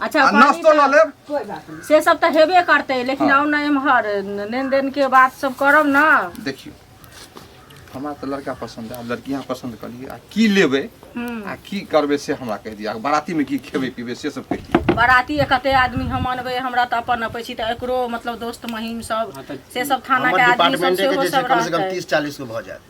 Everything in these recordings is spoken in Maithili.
अच्छा आ पानी नाश्तो तऽ- लऽ लेब कोई बात नहीं से सब तऽ हेबे करतै लेकिन आउ ने एम्हर लेन देन के बात सब करब ने देखियो हमरा तऽ लड़का पसंद है आब लड़की यहाँ पसंद कर लियै आ की लेबै हम्म। आ की करबै से हमरा कहि दिअ आ बाराती में की खेबै पीबै से सब कहि दिअ बाराती एक कते आदमी हम अनबै हमरा तऽ अपन अबै छी तऽ एकरो मतलब दोस्त महीम सब हाँ, तो से सब थाना हमर के आदमी सब डिपार्टमेंटे के सेहो जे छै सब कम से कम रहतै तीस चालीस गो भऽ जायत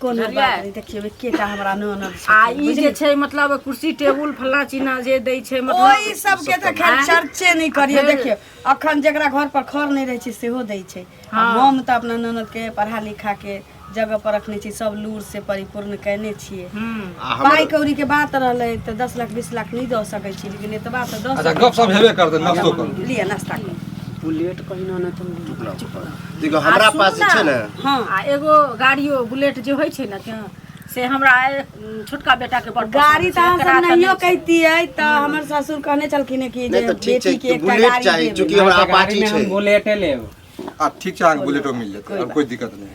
कोनो बुझलियै? बात नहि देखियौ एकेटा हमरा ननद छै आ ई जे छै मतलब कुर्सी टेबुल फल्ला चिन्हा जे दै छै ओहि मतलब सबके तऽ खैर आँय? चर्चे नहि करियौ फेर- देखियौ अखन जेकरा घर पर खर नहि रहै छै सेहो दै छै आ हँ। हम तऽ अपना ननद के पढ़ा लिखा के जगह पर रखने छी सब लूर से परिपूर्ण केने छियै हम्म। आ हमर- पाइ कौड़ी के बात रहलै तऽ दस लाख बीस लाख नहि दऽ सकै छी लेकिन एतबा तऽ दऽ अच्छा सकै गप सब हेबे करतै नस्तो करू छी। लिअ नाश्ता करू बुलेट कहिना नहि चलबै देखो हमरा पास जे छै ने हाँ आ एगो गाड़ियो बुलेट जे होइ छै ने के से हमरा ए- छोटका बेटा के बड़ गाड़ी तऽ हम सब नहियो कहतियै तऽ हमर ससुर कहने छलखिन हँ कि जे नहि तऽ ठीक छै बेटी के कि एकटा बुलेट गाड़ी चाही देबै। चूँकि हमरा अहाँके गाड़ी अपाची में छै हम बुलेटे लेब अब ठीक छै अहाँके बुलेटो मिल जेतै अब कोई दिक्कत नहीं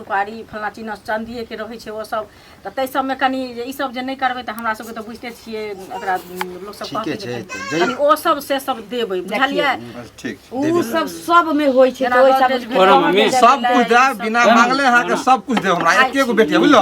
सुपारी फल्लाँ चिन्ह चाँदिएके रहै छै ओसब तऽ ताहि सबमे कनि जे ईसब जे नहि करबै तऽ हमरा सबके तऽ बुझिते छियै एकरा लोकसब ठीके कहतै जे छै, कनि- जै- कनि ओसब से सब देबै बुझलियै बस ठीक छै ऊ सब सब में होई छै जेना तो ओई सब गोदरेज भेलै, सब कुछ देब बिना मांगले अहाँ के सब कुछ देब हमरा एके गो बेटी है, बुझलो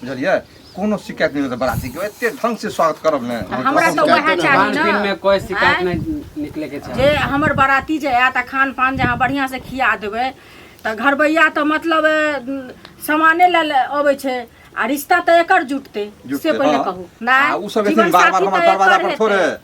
बुझलियै कोनो शिकायत नहि होतै बराती के एते ढंग से स्वागत करब ने आ हमरा तऽ वएह चाही खान पीन ने में कोई शिकायत आँय? नहीं निकले के चाहिए जे हमर बराती जे आयत आ खान पान जे अहाँ बढ़िआँ से खिया देबै तऽ घरबैया तऽ मतलब ए, उम, सामाने लए लए अबै छै आ रिश्ता तऽ एकर जुटतै जुटतै, से पहिले हँ। कहू आ उ सब एथिन बार-बार हमर दरवाजा पर थोड़े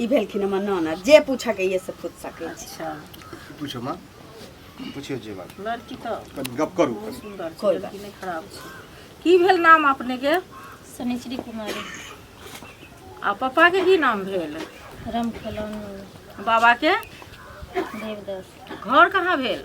ई भेलखिन हमर नाना जे पूछऽके यऽ से पूछ सकै छी अच्छा पूछो माँ पूछियो जे बात लड़की तो कनी गप करू बहुत सुंदर छै कोई लड़की नहीं खराब छै की भेल नाम अपने के शनिश्री कुमारी आ पापा के की नाम भेल रामखेलौन बाबा के देवदास घर कहाँ भेल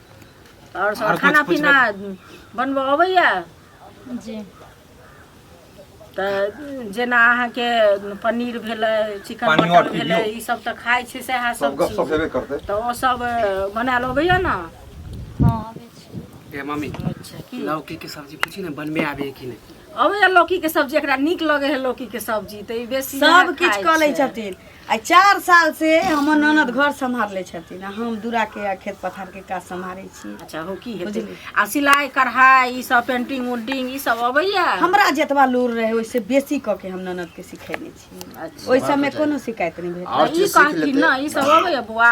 आओर सब खाना पीना बनबऽ अबैया जी तऽ जेना अहाँके पनीर भेलै चिकन पानियो मटन भेलै पिबियौ। ई सब तऽ खाइ छै सएह सब सब गप चीज सब हेबे करतै तऽ ओ सब बनायल अबैया ने हँ अबै छी ए मम्मी अच्छा की लौकी के सब्जी पूछी ने बनबे आबे है कि नहीं अबैया लौकी के सब्जी एकरा नीक लगे है लौकी के सब्जी तऽ ई बेसी सब किछु कऽ लै छथिन आ चार साल से हमर ननद घर सम्हार ले छथिन आ हम दूरा के आ खेत पथार के काज सम्हारे छी अच्छा हो की हेतै बुझलियै। आ सिलाइ कढ़ाइ ई सब पेंटिंग उंटिंग ई सब अबैया हमरा जतबा लूर रहे ओइसे बेसी क के हम ननद के सिखेने छी अच्छा ओइ सब में कोनो शिकायत नहीं भेल आओर ई चीज सीख कहथिन लेतै। ना ई सब अबैया बौआ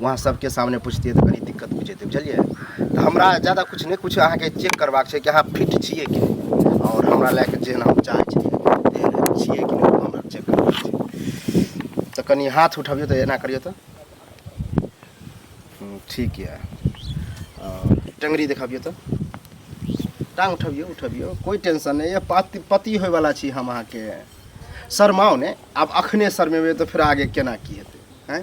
वहाँ सबके सामने पूछतियै तऽ कनी दिक्कत बुझेतै जेतै बुझलियै तऽ हमरा जादा किछु नहि किछु अहाँके चेक करबाक छै कि अहाँ फिट छियै कि नहि आओर हमरा लए कऽ जेहन हम चाहै छी तेहन छियै कि नहि हमरा चेक करबाक छै तऽ कनि हाथ उठबियौ तऽ एना करियौ तऽ हम्म, ठीक यऽ टंगरी देखबियौ तऽ टांग उठबियौ उठबियौ कोइ टेंशन नहि यऽ पति पति होयवला छी हम अहाँके शरमाउ ने आब अखने शरमेबै तऽ फेर आगे केना की हेतै हैं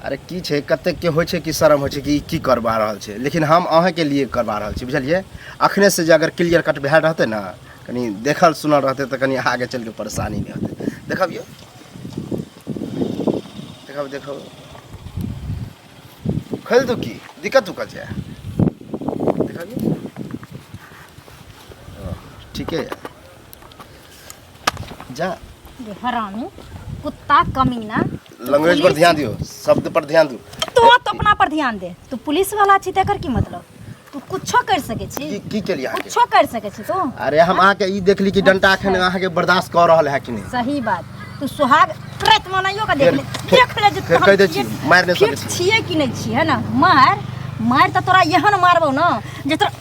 अरे की छै कतेकके होइ छै कि शर्म होइ छै कि की करबा रहल छै लेकिन हम अहाँके लिए करबा रहल छी बुझलियै अखने से जे अगर क्लियर कट भए रहतै ने कनि देखल सुनल रहतै तऽ कनि आगे चलि कऽ परेशानी नहि होतै देखब यौ देखब देखब खोलि दू की दिक्कत उक्कत छै देखब ठीके यऽ जा ये हरामी कुत्ता कमीना लैंग्वेज पर ध्यान दियो शब्द पर ध्यान दियो तो तो अपना पर ध्यान दे तू पुलिस वाला छी तेकर की मतलब तू कुछो कर सके छी की की केलिए अहाँ के कुछो कर सके छी तू अरे हम अहाँ के ई देखली कि डंटा एखन अहाँ के बर्दाश्त कऽ रहल है कि नहीं सही बात तू सुहाग प्रत मनाइयो का देख ले फेर- देख ले जे फेर तोहर कहि दै छी, छियै- मारि नहि सकै फिट छी। छियै कि नहि छियै है ना मार मार तऽ तोरा एहन मारबौ ने जे तोरा